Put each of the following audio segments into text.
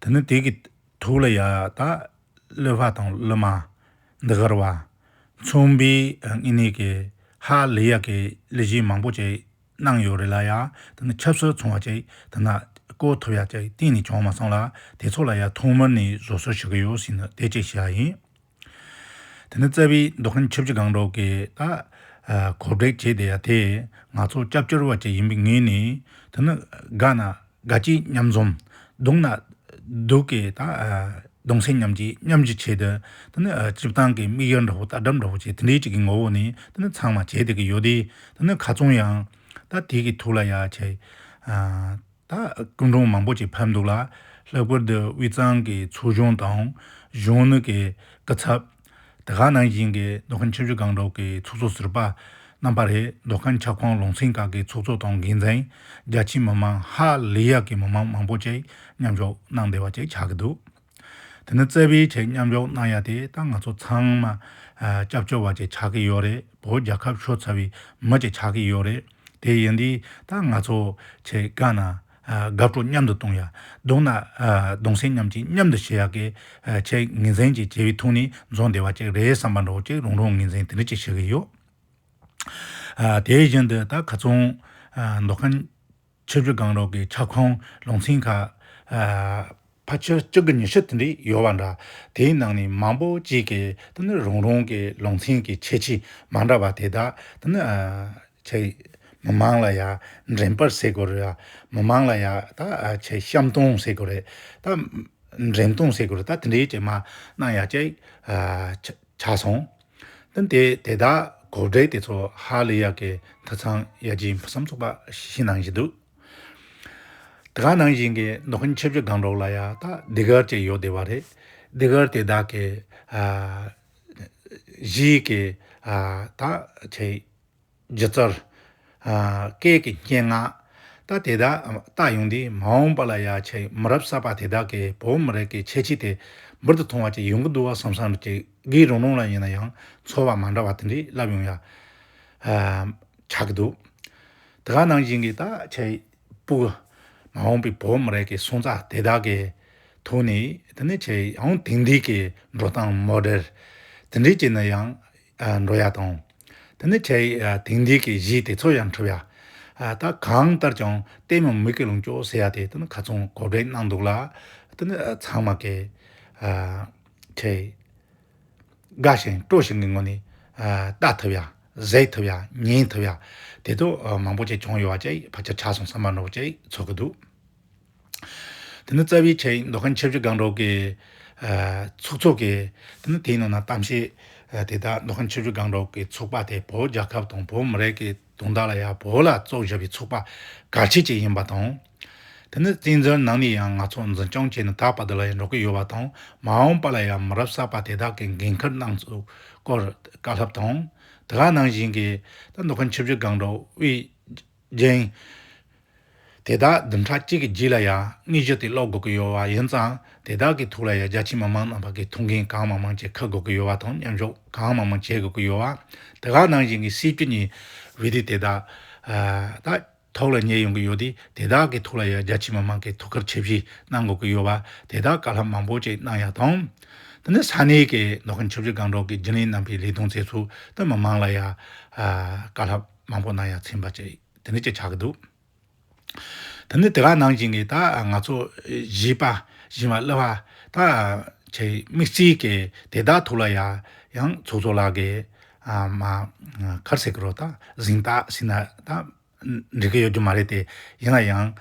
དེ་ནི་དེ་གི་ཐུགས་ལ་ཡ་ད་གློད་བ་དང་གློད་མ། འདི་གར་བ། མཚུངས་པའི་ངེས་གནས་ཀྱི་ཧ་ལས་ཡག་གི་ལས་གཞི་མང་པོ་ཅིག་གནང་ཡོད་རེད་ལ་ཡ་དེ་ནི་ཆབ་སྲིད་ཚོང་བ་ཅིག་དེ་ན་བཀོལ་ཐུབ་ཡག་ཅིག་གཏན་ནས་བྱུང་མ་སོང་ལ་དེ་ཚོ་ལ་ཡ་ཐོག་མར་ནས་བཟོད་གསོལ་ཞུ་གི་ཡོད་ཟེར་ནི་དེ་ཅིག་བྱས་ཡིན། དེ་ནས་རྩ་བའི་མདོ་ཁམས་ཆབ་ཆ་གང་རོག་གེ་ད་གོ་བྲེག་བྱེད་དེ་ཡ་དེས་ང་ཚོ་སྐྱབས་བཅོལ་བ་ཅིག་ཡིན་པའི་ངོས་ནས་དེ་ནི་དགའ་ན་དགའ་སྐྱིད་མཉམ་འཛོམས་སྡུག་ན་སྡུག་གེ་ད་གདུང་སེམས་མཉམ་སྐྱིད་མཉམ་བཞི་བྱེད་དེ་དེ་ནི་སྤྱི་བཏང་གི་དམིགས་ཡུལ་འདྲ་བོ་ལྟ་གྲབ་འདྲ་བོ་བྱེད་དེ་འདྲའི་ཅིག་གི་ངོ་བོ་ནས་དེ་ནི་ཚང་མ་བྱེད་དེ་གི་ཡོད་དེ་དེ་ནི་ག་ཚོང་ཡང་ད་དེ་གི་ཐུགས་ལ་ཡ་ཆེ། ད་སྐུ་མགྲོན་མང་པོ་ཅིག་ཕེབས་འདུག་ལ། ལྷག་པར་དུ་དབུས་གཙང་གི་མཚོ་གཞུང་དང། གཞོན་ནུ་གི་སྐུ་ཚབ། དེ་ག་ནང་བཞིན་གྱི་མདོ་ཁམས་ཆབ་ཆུ་སྒང་དྲུག་གི་ཚོགས་གཙོ་ཟུར་པ། རྣམ་པ་རེད་མདོ་ཁམས་ཁྱབ་ཁོངས་ལུང་ཚན་ཁག་གི་ཚོགས་གཙོ་དང་འགན་འཛིན། རྒྱ་ཆེའི་མི་མང་ཧ་ལས་ཡག་གི་མི་མང་མང་པོ་ཅིག་མཉམ་ཞུགས་གནང་བདེ་བ་ཅིག་ཆགས་ཀྱི་འདུག། དེ་ནི་བརྩེ་བའི་ཆེད་མཉམ་འཇོག་གནང་ཡ་དེ་ད་ང་ཚོ་ཚང་མ་སྐྱབས་བཅོལ་བ་ཅིག་ཆགས་ཀྱི་ཡོད་རེད་བོད་རྒྱལ་ཁབ་ཤོར་ཚར་བའི་མི་ཅིག་ཆགས་ཀྱི་ཡོད་རེད་དེ་ཡིན་དུས་ད་ང་ཚོ་ཆེད་དགའ་ན་དགའ་སྤྲོ་མཉམ་དུ་གཏོང་ཡ་གདུང་ན་གདུང་སེམས་མཉམ་གཅིག་མཉམ་དུ་བྱེད་ཡ་གི་ཆེད་ངེས་འཛིན་ཅིག་བྱེད་པའི་ཐུགས་ནས་འཛོམས་བདེ་བ་ཅིག་རེད་བསམ་པ་འདྲོག་ཅིག་རང་རང་ངེས་འཛིན་དེ་འདྲ་ཅིག་བྱེད་ཀྱི་ཡོད་དེ་བཞིན་དུ་ད་ག་ཚོང་མདོ་ཁམས། ཆོས་རྒྱུད་གང་རུང་གི་ཁྱབ་ཁོངས་ལུང་ཚན་ཁག། ཕ་ཆོས་གཅིག་གི་ཉི་ཤུ་དེ་འདྲ་ཡོད་པ་འདྲ། དེའི་ནང་ནས་མང་པོ་གཅིག་གི་དེ་ནི་རང་རང་གི་ལུང་ཚན་གྱི་ཁྱད་ཆོས་མ་འདྲ་བ་དེ་དག་དེ་ནི། ཆེ་མི་མང་ལ་ཡང་འགྲན་པར་བྱེད་དགོས་རེད། མི་མང་ལ་ཡང་ད་ཆེ་བཤམ་སྟོན་བྱེད་དགོས་རེད། ད་འགྲན་སྟོན་བྱེད་དགོས་རེད་ད་དེ་འདྲའི་ཆེ་མ་གནང་ཡ་ཆེ། ཆ་སོང། ཏན་ཏེ་དེ་དག་གོ་བསྒྲིགས་དེ་ཚོ་ཧ་ལས་ཡག་གི་དེ་ཚང་ཡ་ཇི་ཡིན་བསམ་ཚོགས་པ་ཞིག་ནང་བཞིན་འདུག་དེ་ག་ནང་བཞིན་གི་ནོ་ཁུན་ཆེ་བཞི་སྒང་དྲོག་ལ་ཡ་ད་སྡེ་གར་ཅིག་ཡོད་བསྡད་པ་རེད་སྡེ་གར་དེ་དག་གི་གཞིས་ཀྱི་ད་ཆེ། སྦྱི་རྩར། སྐད་ཀྱི་སྙན་ངག། ད་དེ་དག་བཏགས་ཡོང་དུས་མ་འོངས་པ་ལ་ཡ་ཆེ་མི་རབས་གསར་པ་དེ་དག་གིས་བོད་མི་རིགས་ཀྱི་ཁྱད་ཆོས་དེ་འབུར་དུ་ཐོན་བ་ཅིག་ཡོང་གི་འདུག་བསམ་བསམ་ཅིག་གིས་རང་རང་ལ་ཡིན་ན་ཡང་ཚོར་བ་མ་འདྲ་བ་དེ་འདྲས་བསླབས་ཡོང་ཡ། ཆགས་ཀྱི་འདུག་དེ་ག་ནང་བཞིན་གྱི་ད་ཆའི་པུའུ། མ་འོངས་པའི་བོད་མི་རིགས་ཀྱི་སོན་རྩ་དེ་དག་གི་ཐུགས་ནས་དེ་ནི་ཆེ་ཡང་དེང་དུས་ཀྱི་འགྲོ་སྟངས་མོ་རེར་དེ་འདྲས་བྱས་ན་ཡང་འགྲོ་ཡ་དང། དེ་ནི་ཁྱེད་དེང་འདིས་ཀྱི་གཞིས་དེ་ཚོ་ཡང་འཁྲུབ་ཡ། ད་གང་ལྟར་ཀྱང་ལྟད་མོ་མིག་གི་ལུང་ཅོག་ཟེར་ཡ་དེ་དེ་ནི་ག་ཚོང་གོ་བྲེག་གནང་འདུག་ལ། དེ་ནི་ཚང་མ་ཀྱི། ཁྱེད། དགའ་ཞིང་སྤྲོ་ཞིང་གི་ངོ་ནས། ལྟ་ཐུབ་ཡ། གཟིགས་ཐུབ་ཡ། ཉན་ཐུབ་ཡ། དེ་ཚོ་མང་པོ་ཅིག་བྱུང་ཡོད་བ་ཅིག་བར་ཆ་ཆགས་སོང་ས་མ་ནོར་བ་ཅིག་ཚོར་གི་འདུག། དེ་ནི་རྩ་བའི་ཆེད་མདོ་ཁམས་ཆབ་སྲིད་སྒང་དྲུག་གི་ཚོགས་གཙོ་གིས་དེ་ནི་དེའི་ནང་ན་གཏམ་བཤད་དེ་དག་མདོ་ཁམས་ཆབ་སྲིད་སྒང་དྲུག་གི་ཚོགས་པ་དེ་བོད་རྒྱལ་ཁབ་དང་བོད་མི་རིགས་ཀྱི་དོན་དག་ལ་ཡང་བོད་ལ་བཙོག་བཞག་པའི་ཚོགས་པ་གལ་ཆེ་གཅིག་ཡིན་པ་དང། དེ་ནི་བཙན་བྱོལ་ནང་ནས་ཡང་ང་ཚོ་འཛིན་སྐྱོང་བྱས་ནས་ད་བར་དུ་ལ་ཡང་འགྲོ་གི་ཡོད་པ་དང་མ་འོངས་པ་ལ་ཡང་མི་རབས་གསར་པ་དེ་དག་གི་འགན་ཁུར་གནང་ཚུལ་སྐོར་བཀའ་སློབ་དང། དེ་ག་ནང་བཞིན་གྱི་ད་མདོ་ཁམས་ཆབ་སྲིད་སྒང་དྲུག་དབུས། རྒྱན། དེ་དག་བདུན་ཕྲག་གཅིག་གི་རྗེས་ལ་ཡང་དངོས་གཞི་དེ་ཀློག་དགོས་ཀྱི་ཡོད་པ་ཡིན་ཙང་དེ་དག་གི་ཐུགས་ལ་ཡང་རྒྱ་ཆེ་མི་མང་རྣམས་པ་ཀྱི་ཐུགས་འགན་གང་མང་མང་བཅས་ཁུར་དགོས་ཀྱི་ཡོད་པ་དང་མཉམ་ཞུགས་གང་མང་མང་བྱེད་དགོས་ཀྱི་ཡོད་པ། དེ་ག་ནང་བཞིན་གྱི་སྲིད་བྱུས་གཉིས་བོད་དུས་དེ་དག་ད་ཐོག་ལ་ཉེ་ཡོང་གི་ཡོད་དེ་དེ་དག་གི་ཐུགས་ལ་ཡང་རྒྱ་ཆེ་མི་མང་གི་ཐུགས་ཁུར་ཆེ་བཞེས་གནང་དགོས་ཀྱི་ཡོད་པ་དེ་དག་བཀའ་ལྷག་མང་པོ་བཅས་གནང་ཡག་དང། དེ་ནས་ས་གནས་ཀྱི་མདོ་ཁམས་ཆབ་སྲིད་སྒང་དྲུག་གི་རྒྱུན་ལས་རྣམ་པའི་ལས་དོན་རྩེ་ཚུགས་དེ་མི་མང་ལ་ཡང་བཀའ་ལྷག། མང་པོ་གནང་ཡང་ཚིམ་པ་ཅི་དེ་འདྲ་ཅིག་ཆགས་ཀྱི་འདུག་དེ་ནི་དེ་ག་ནང་བཞིན་གྱི་ད་ང་ཚོ་བྱིས་པ་བྱིས་མ་གླུ་བ་ད་ཆེ་མིག་གཅིག་གིས་དེ་དག་ཐུགས་ལ་ཡ་ཡང་ཚོགས་གཙོ་ལགས་ཀྱིས་མ་ཁར་ཟེར་གི་རོ་ད་གཟིངས་རྟགས་ཟིན་ན་ད་འགྲིག་གི་ཡོད་རྒྱུ་མ་རེད་དེ་ཡིན་ན་ཡང་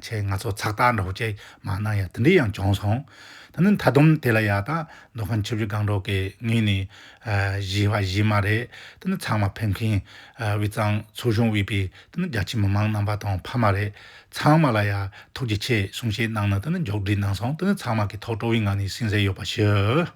ཆེ་ང་ཚོ་ཚགས་རྟགས་འདྲ་བོ་ཅིག་མ་གནང་ཡ་དེ་འདྲ་ཡང་བྱུང་སོང་ད་ནི་མཐའ་བསྡོམས་དེ་ལ་ཡ་ད་མདོ་ཁམས་ཆུ་བཞི་སྒང་དྲུག་གི་ངོས་ནས་གཞི་བ་གཞི་མ་རེད་དེ་ཚང་མ་ཕེབས་མཁན་དབུས་གཙང་ཚོགས་གཞོན་དབུས་པའི་རྒྱ་ཆེའི་མི་མང་རྣམ་པ་དང་ཕ་མ་རེད་ཚང་མ་ལ་ཡ་ཐུགས་རྗེ་ཆེ་གསུང་བཤད་གནང་ནས་མཇུག་སྒྲིལ་གནང་སོང་ཚང་མ་གི་ཐོག་སྤྲོ་བའི་ངང་ནས་སེམས་གསལ་ཡོད་པ་ཞུ།